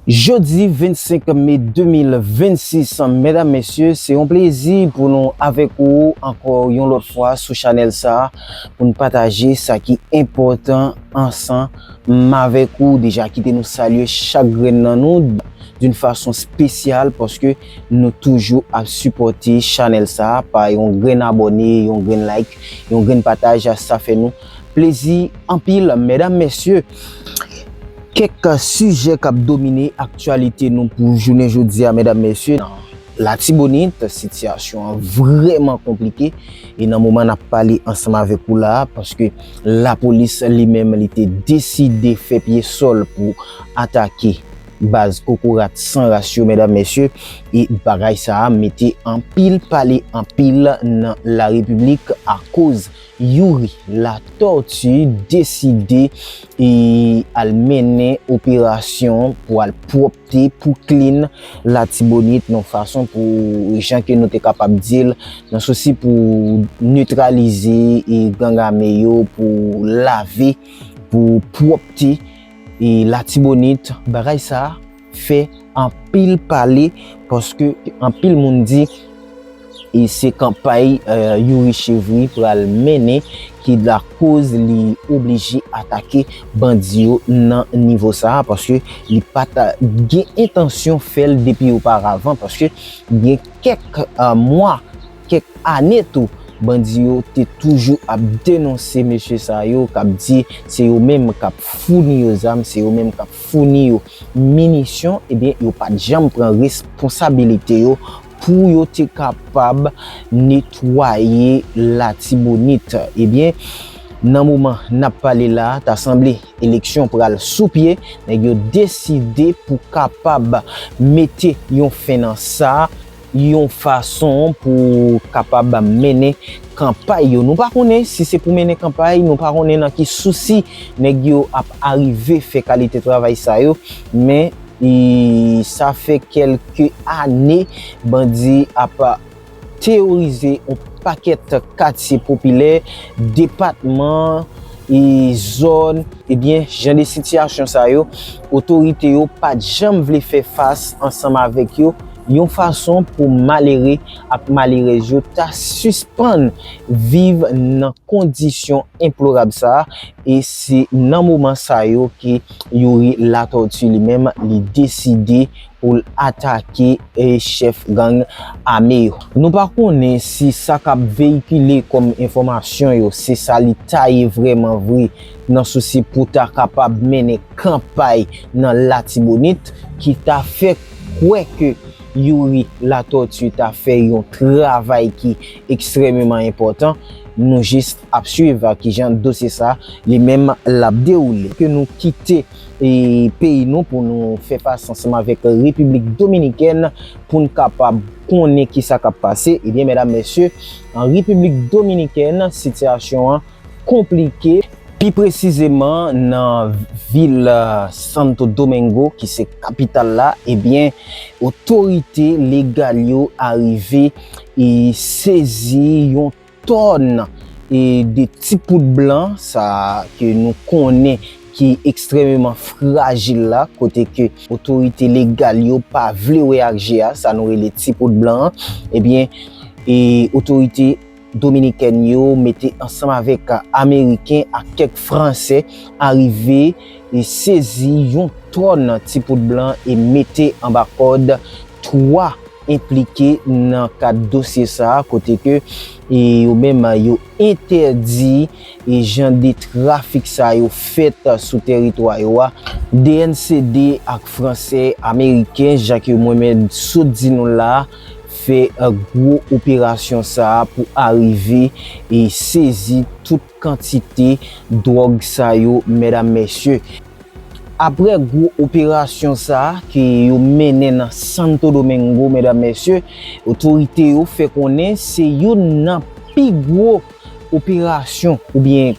Jodi 25 me 2026 medam mesye se yon plezi pou nou avèk ou ankò yon lòt fwa sou chanèl sa pou n pataje sa ki enpòtan ansan m avèk ou deja kite nou salye chak grenn nan nou doun fason spesyal paske nou toujou ap sipòte chanèl sa pa yon grenn abòne yon grenn like yon grenn pataj sa fè nou plezi anpil medam mesye. Kèk sijè k ap domine aktyalite nou pou jounen jodi a medam mesye nan latibonit sitiyasyon an vrèman konplike e nan moman n ap pale ansanm avèk ou la a paske lapolis li menm li te deside fè pye sòl pou atake baz kokorat san ras yo medam mesye e bagay sa a mete anpil pale anpil nan larepiblik akoz Youri Latortue deside al mennen operasyon pou al pwòpte, pou clean Latibonit yon fason pou jan ke nou te kapab di l, nan sousi pou netralize gang ame yo, pou lave, pou pwòpte Latibonit. Bagay sa. fè anpil pale paske anpil moun di e se kanpay Youri Chevry pral mennen ki lakoz li oblije atake bandi yo nan nivo sa a paske li pa ta gen entansyon fè l depi oparavan paske gen kèk mwa, kèk ane tou bandi yo te toujou ap denonse mesye sa yo k ap di se yo menm k ap founi yo zam, se yo menm k ap founi yo minisyon ebyen yo pat janm pran responsabilite yo pou yo te kapab netwaye latibonit ebyen nan moman nap pale la ta sanble eleksyon pral sou pye nèg yo deside pou kapab mete yon fen nan sa. yon fason pou kapab mennen kanpay yo. Nou pa konnen si se pou mennen kanpay, nou pa konnen nan ki sousi nèg yo ap arive fè kalite travay sa yo, men sa fè kelke ane bandi ap teyorize yon pakèt katye popilè, depatman, zòn. Ebyen, jan de sitiyasyon sa yo, otorite yo pa janm vle fè fas ansanm avèk yo. yon fason pou malere ak malerèz yo ta sispann viv nan kondisyon enplorab sa a, e se nan moman sa yo ke Youri Latortue li menm li deside pou l atake chèf gang ame yo. Nou pa konnen si sa k ap veyikile kòm enfòmasyon yo se sa li ta ye vrèman vre nan sousi pou ta kapab mennen kanpay nan Latibonit ki ta fè kwè ke Youri Latortue ta fè yon travay ki ekstrememan enpòtan, nou jis ap swiv a kijan dosye sa li menm l ap dewoule. Ke nou kite peyi nou pou nou fè fas ansanm avèk Repiblik Dominikèn pou n kapab konnen kisa k ap pase. Ebyen medam mesye, an Repiblik Dominikèn sitiyasyon an. konplike, pi presizeman nan vil Santo Domingo ki se kapital la, ebyen otorite legal yo arive sezi yon tòn de ti poud blan sa ke nou konnen ki ekstrememan frajil la, kote ke otorite legal yo pa vle wè ak je a, sa nou rele ti poud blan an, ebyen otorite. Dominikèn yo mete ansanm avèk Ameriken ak kèk Fransè arive sezi yon tòn ti poud blan e mete anba kòd 3 enplike nan kad dosye sa a kote ke yo menm yo entèdi jan de trafik sa yo fèt sou tèritwa yo a. DNCD ak Fransè, Ameriken, jan ke mwen menm sot di nou la a. fè gwo operasyon sa a pou arive sezi tout kantite dwòg sa yo medam mesye. Aprè gwo operasyon sa a ke yo mennen nan Santo Domingo medam mesye, otorite yo fè konnen se youn nan pi gwo operasyon oubyen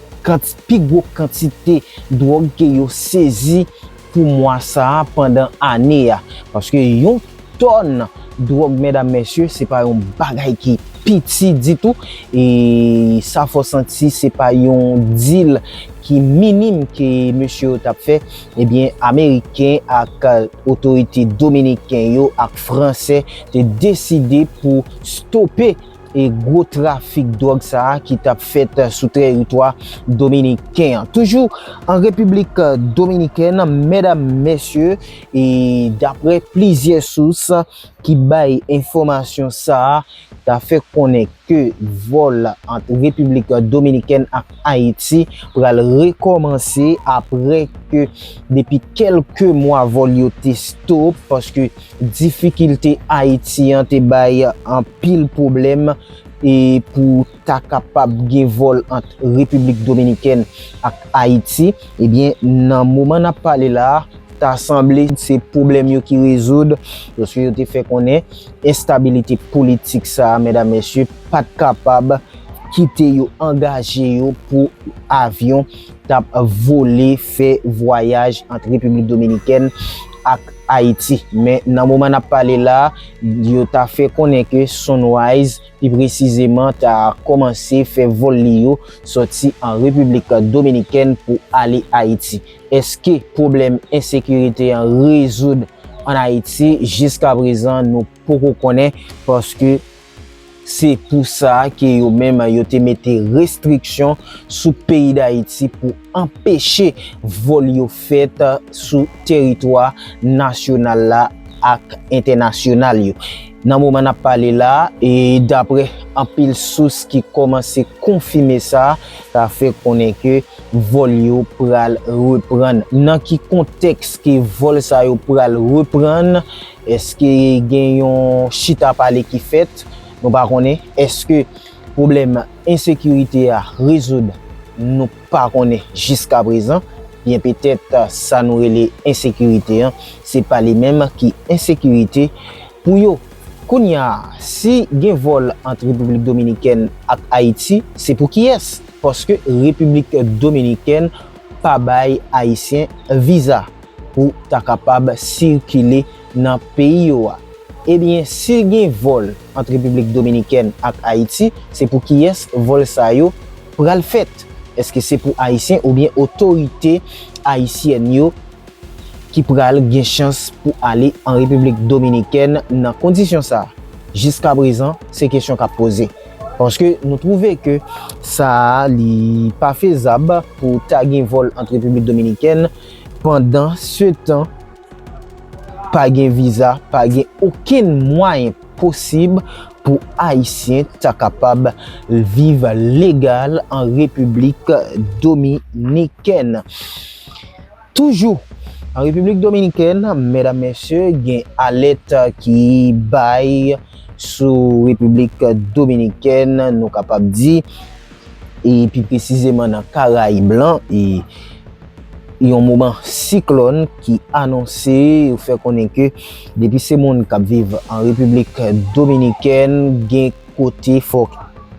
pi gwo kantite dwòg ke yo sezi. pou mwa sa a pandan ane a paske yon tòn dwòg medam mesye se pa yon bagay ki piti ditou e sa fò santi se pa yon dil ki minim ke mesye yo tap fè ebyen ameriken ak otorite dominiken yo ak fransè te deside pou stope e gwo trafik dwòg sa a ki t ap fèt sou teritwa dominiken an. Toujou an Repiblik Dominikèn, medam, mesye, e daprè plizyè sous ki bay enfòmasyon sa a, ta fè konnen ke vòl ant Repiblik Dominikèn ak Ayiti pral rekòmanse aprè ke depi kèlke mwa vòl yo te stop paske Difikilte Ayiti an te bay anpil pwoblèm pou ta kapab gen vòl ant Repiblik Dominikèn ak Ayiti. Ebyen, nan moman n ap pale la a, ta sanble se pwoblèm yo ki rezoud, paske yo te fè konnen enstabilite politik sa a, medam mesye, pa t kapab kite yo angaje yo pou avyon t ap vole fè vwayaj ant Repiblik Dominikèn ak Ayiti. Men nan moman n ap pale la, yo ta fè konnen ke Sunrise pi presizeman ta kòmanse fè vòl li yo sòti an Repiblik Dominikèn pou ale Ayiti. Eske pwoblèm ensekirite an rezoud an Ayiti? Jiskaprezan nou poko konnen paske. Se pou sa ke yo menm yo te mete restriksyon sou peyi Dayiti pou anpeche vòl yo fèt sou teritwa nasyonal la ak entènasyonal yo. Nan moman n ap pale la, daprè anpil sous ki kòmanse konfime sa, sa fè konnen ke vòl yo pral reprann. Nan ki kontèks ke vòl sa yo pral reprann? Èske gen yon chita pale ki fèt? Nou pa konnen. Èske pwoblèm ensekirite a rezoud? Nou pa konnen jiskaprezan. Byen petèt sa nou rele ensekirite an, se pa li menm ki ensekirite pou yo. Kounya a, si gen vòl ant Repiblik Dominikèn ak Ayiti, se pou kiyès? Paske Repiblik Dominikèn pa bay Ayisyen viza. pou ta kapab sikile nan peyi yo a. Ebyen si gen vòl ant Repiblik Dominikèn ak Ayiti se pou kiyès vòl sa yo pral fèt? Eske se pou Ayisyen oubyen otorite Ayisyèn yo ki pral gen chans pou ale an Repiblik Dominikèn nan kondisyon sa? Jiska prezan se kesyon kap poze. Paske nou twouve ke sa li pa fezab pou ta gen vòl ant Repiblik Dominikèn Pandan se tan, pa gen viza, pa gen okenn mwayen posib pou Ayisyen ta kapab viv legal an Repiblik Dominikèn. Toujou, an Repiblik Dominikèn, medam mesye, gen alèt ki bay sou Repiblik Dominikèn, nou kapab di, e pi presizeman nan Karayib lan, e. Yon moman siklòn ki anonse yo fè konnen ke depi se moun k ap viv an Repiblik Dominikèn gen kote fòk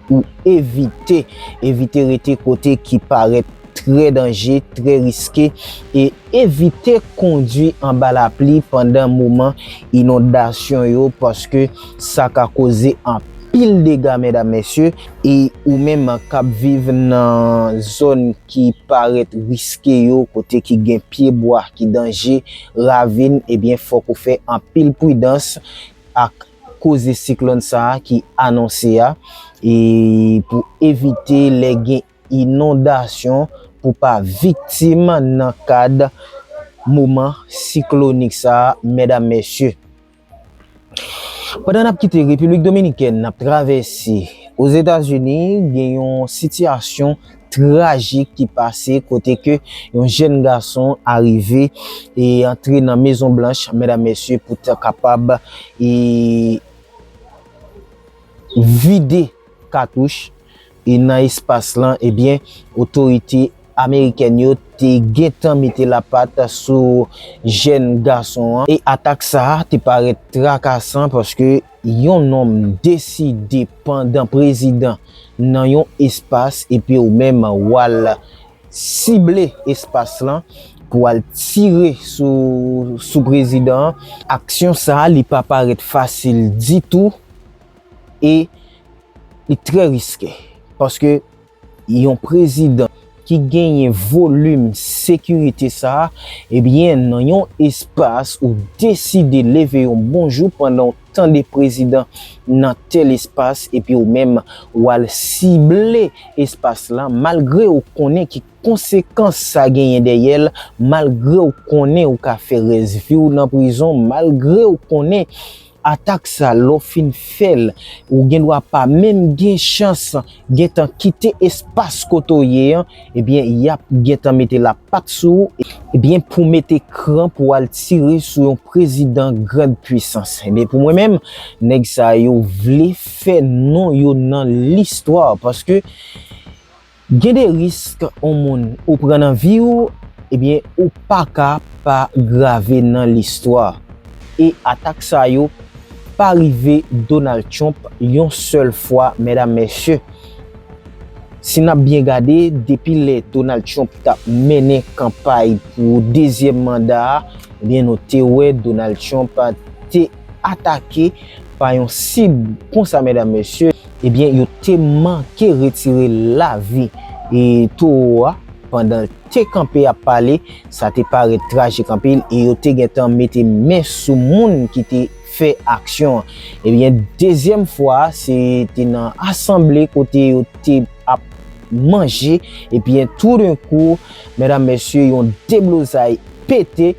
ou evite, evite rete kote ki parèt trè danje, trè riske e evite kondwi anba lapli pandan moman inondasyon yo paske sa ka koze anpil dega medam mesye. E ou menm k ap viv nan zòn ki parèt riske yo, kote ki gen pye bwa ki danje, ravin, ebyen fòk ou fè anpil pridans ak koze siklòn sa a ki anonse a, e pou evite lè gen inondasyon pou pa viktim nan kad moman siklonik sa a mèdam mèsye. Pandan n ap kite Repiblik Dominikèn, n ap travèse Ozetazini, gen yon sitiyasyon trajik ki pase kote ke yon jèn gason arive e antre nan Mezon Blanch, medam mesye, pou ta kapab e vide. katouch e nan espas lan ebyen otorite amerikèn yo te gentan mete lapat sou jèn gason an e atak sa a te parèt trakasan paske yon nonm deside pandan prezidan nan yon espas epi ou menm wal sible espas lan pou al tire sou prezidan an aksyon sa a li pa parèt fasil ditou. e li trè riske paske yon prezidan ki genyen volim sekirite sa a, ebyen nan yon espas ou deside leve yon bon jou pandan w tande prezidan nan tèl espas epi ou menm w al sible espas la malgre ou konnen ki konsekans sa genyen dèyè l, malgre ou konnen ou ka fè rès vi w nan prizon, malgre ou konnen Atak sa lè w fin fè l, ou gen dwa pa menm gen chans gentan kite espas kote w ye an, ebyen y ap gentan mete lapat sou ou, ebyen pou mete kran pou al tire sou yon prezidan grand puissance, ebyen pou mwen menm nèg sa yo vle fè non yo nan listwa paske Gen de risk on moun ou pran nan vi ou ebyen ou paka pa grave nan listwa e atak sa yo pa rive Donald Trump yon sèl fwa mèdam mèsye si nap byen gade depi lè Donald Trump tap mennen kanpay pou dezyèm manda a ebyen nou te wè Donald Trump te atake pa yon sib konsa mèdam mèsye. Ebyen yo te manke retire lavi towo a pandan l te kanpe ap pale, sa te parèt trajik anpil e yo te gentan mete men sou moun ki te fè aksyon an. Ebyen dezyèm fwa a se te nan asanble kote yo te ap manje ebyen toudenkou medam mesye yon deblozay pete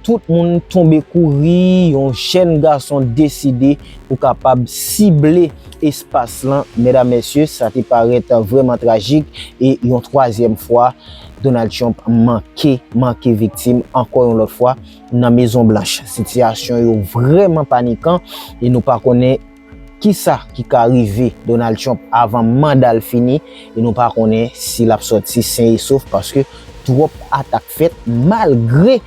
Tout moun tonbe kouri, yon jèn gason deside pou kapab sible espas lan. Medam, mesye, sa te parèt vrèman trajik e yon twazyèm fwa Donald Trump manke, manke viktim ankò yon lòt fwa nan Mezon Blanch. Sitiyasyon yo vrèman panikan e nou pa konnen. Kisa ki ka rive Donald Trump avan manda l fini e nou pa konnen si l ap sòti sen e sof paske twòp atak fèt malgre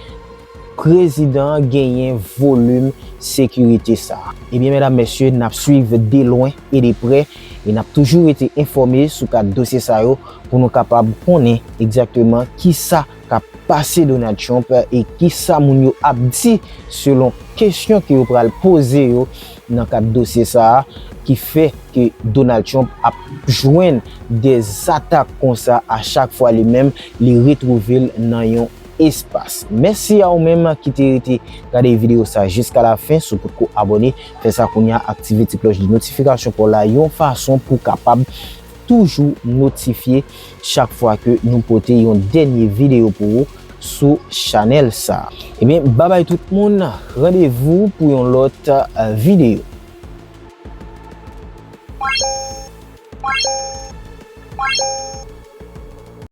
prezidan an genyen volim sekirite sa a. Ebyen medam mesye n ap swiv de lwen e de prè e n ap toujou rete enfòme sou kad dosye sa yo pou nou kapab konnen egzakteman kisa k ap pase Donald Trump e kisa moun yo ap di selon kesyon ke yo pral poze yo nan kad dosye sa a ki fè ke Donald Trump ap jwenn de zatak konsa a chak fwa li menm li retwouve l nan yon espas. Mèsi a ou menm ki te rete gade videyo sa jiska la fen, si w potko abòne fè sa kounya aktive ti klòch de notifikasyon pa w la yon fason pou w kapab toujou notifye chak fwa ke nou pote yon dènye video pou ou sou chanèl sa. Ebyen babay tout moun randevou pou yon lòt video.